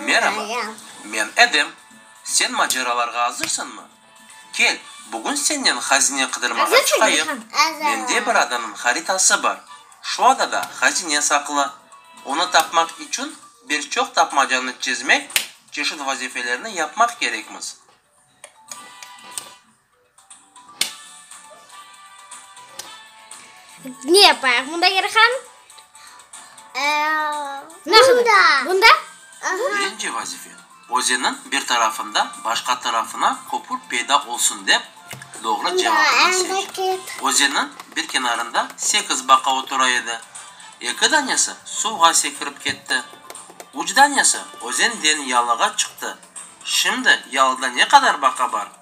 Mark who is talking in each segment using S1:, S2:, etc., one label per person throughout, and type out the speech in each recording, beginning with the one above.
S1: Meraba, men Edem. Sen maceralarğa azırsıñmı? Kel, bugün sennen hazine qıdırmağa çıqayıq. Mende
S2: bir
S1: adanıñ haritası bar. Şu adada hazine saqlı. Onı tapmaq içün bir çoq tapmacanı çezmek, çeşit vazifelerni yapmaq kerekmiz.
S2: Ne yapayıq bunda Yer xanım?
S3: Bunda?
S2: Birinci
S1: vazife, özeniñ bir tarafında başqa tarafına köpür peyda olsun dep, doğru cevabını seç. Özeniñ bir kenarında sekiz baqa otura edi. Eki danesi suvğa sekirip ketti. Üç danesi özenden yalığa çıqtı. Şimdi yalıda ne qadar baqa bar?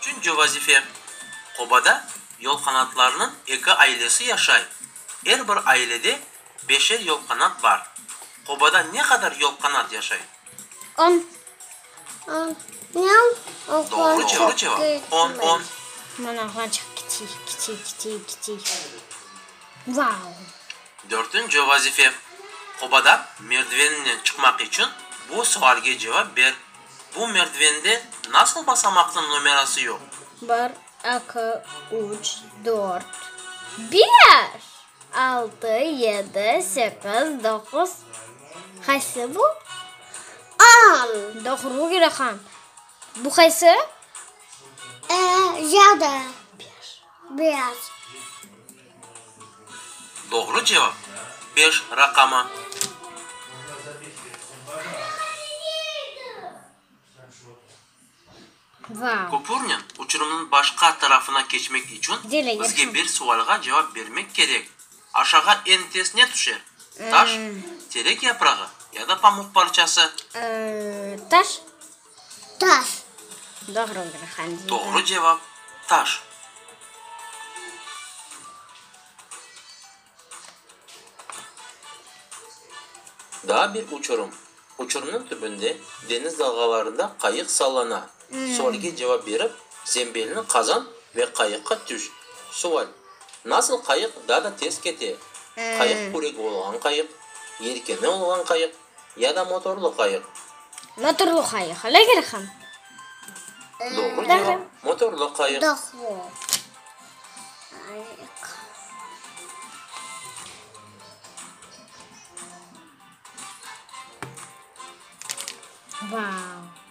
S1: Tünce vazife, Qobada yolqanatlarnıñ eki ailesi yaşay, er bir ailede beşer yolqanat bar. Qobada ne qadar yolqanat yaşay? On. Doğru cevap, on, on. Mına oğlançıq
S2: kiçiy, kiçiy, kiçiy, kiçiy. Vau!
S1: Dörtünci vazife, Qobadan merdiveninen çıqmaq içün bu sualge cevap ber, Bu merdivende nasıl basamaqnıñ nomerası yoq? Bir,
S2: eki, üç, dört, beş, altı, yedi, sekiz, doquz, qaysı bu? On!
S3: Doğru kerek
S2: ham. Bu qaysı?
S3: Yedi, beş.
S1: Doğru cevap, beş raqamı.
S2: Köpürnen uçurımnıñ
S1: başqa tarafına keçmek içün bizge bir
S2: sualğa
S1: cevap bermek kerek, Aşağa eñ tez ne tüşer, taş, terek yaprağı ya da pamuq parçası?
S2: Taş.
S3: Taş.
S2: Doğru olacaq hangi? Doğru cevap,
S1: taş. Daa bir uçurım. Uçurımnıñ tübünde deñiz dalğalarında qayıq sallana. Sualge cevap berip, zembelni qazan ve qayıqqa tüş. Sual, Nasıl qayıq daa da tez kete? Qayıq qüregi olğan qayıq, yelkeni olğan qayıq, Ya da motorlı qayıq. Motorlı
S2: qayıq, öyle gerek ham. Doğru
S1: cevap, motorlı qayıq.
S3: Doğru.
S2: Vau.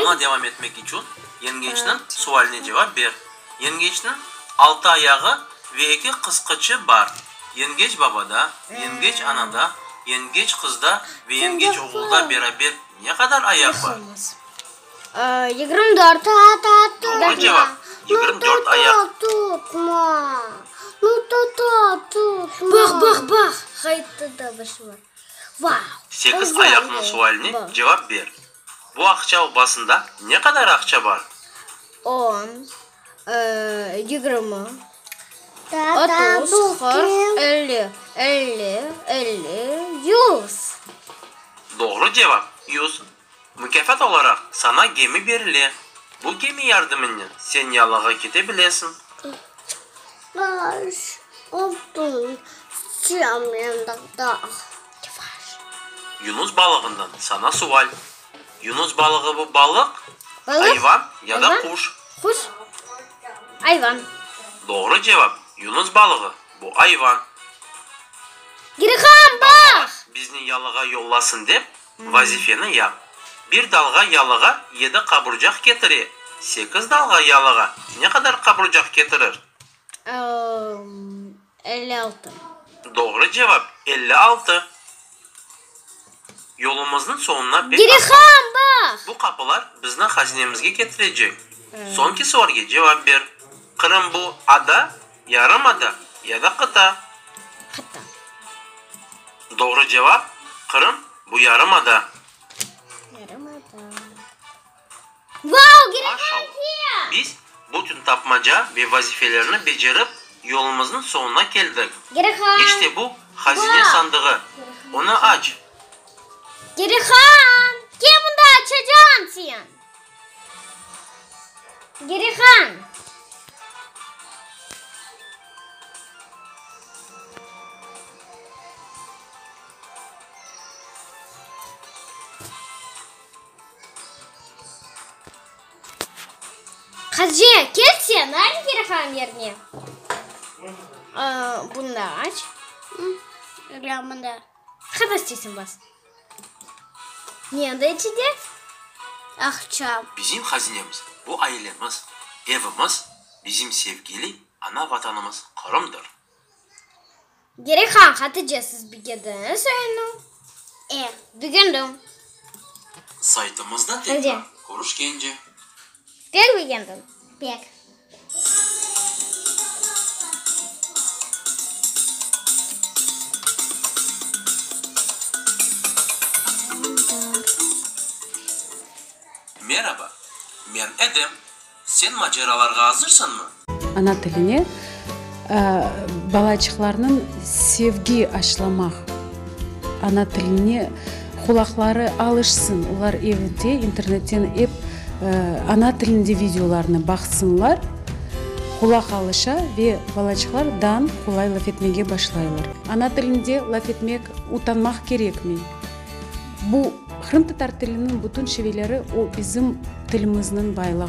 S3: Yoluna
S2: devam etmek içün
S1: yengeçniñ sualine cevap ber. Yengeçniñ altı ayağı ve eki qısqıçı bar. Yengeç babada, yengeç anada, yengeç qızda ve yengeç oğulda beraber ne qadar ayaq bar?
S2: Doğru
S1: cevap,
S3: yigirmi
S2: dört ayaq. Sekiz ayaqnıñ
S1: sualine cevap ber. Bu aqça obasında ne qadar aqça bar? On,
S2: yigirmi, otuz, qırq,
S3: elli, elli,
S2: elli, yüz.
S1: Doğru cevap, yüz. Mukâfat olaraq saña gemi berile. Bu gemi yardımınnen sen yalığa kete
S3: bilesiñ.
S1: Yunus balığından saña sual. Yunus balığı bu balıq, ayvan
S2: ya da
S1: quş?
S2: Doğru
S1: cevap, Yunus balığı bu ayvan.
S2: Bizni yalığa
S1: yollasın dep Vazifeni yap. Bir dalğa yalığa yedi qaburcaq ketire, sekiz dalğa yalığa ne qadar qaburcaq ketirir?
S2: Elli altı. Doğru
S1: cevap, elli altı. Yolumıznıñ soñuna pek az qaldı.
S2: Bu qapılar bizniñ
S1: hazinemizge ketirecek. Soñki sualge cevap ber. Qırım bu ada? Yarımada ya da qıta?
S2: Qıta.
S1: Doğru cevap, Qırım, bu yarımada. Yarımada.
S2: Vau, Maşallah! Girafaldiya! Biz bütün
S1: tapmaca ve vazifelerni becerip, yolumıznıñ soñuna keldik. Girafal! İşte bu, hazine Vau! sandığı.
S2: Onı
S1: aç. Girafal!
S2: Ke mında açacağım sen? Girihan. Hace, kel sen, aç Girihan yerine. Bunı da aç.
S3: Bunı da. Qada
S2: isteysen bas. Ne de içide aqça.
S3: Bizim hazinemiz,
S1: bu ailemiz, evimiz, bizim sevgili ana Vatanımız Qırımdır. Gerek
S2: han Hatice siz bigedini soyunu e, bigendim.
S1: Saytımızda tekrar
S2: körüşkence.
S1: Pek
S2: begendim, pek.
S1: Meraba, men Edem. Sen maceralarğa azırsıñmı? Ana tiline
S4: balaçıqlarnıñ sevgi aşlamaq, ana tiline qulaqları alışsın, olar evde internetten ep ana tilinde videolarnı baqsınlar, qulaq alışa ve balaçıqlar dan qolay laf etmege başlaylar. Ana tilinde laf etmek utanmaq kerekmi? Bu, qırımtatar tiliniñ bütün şiveleri, o bizim tilimizniñ baylığı.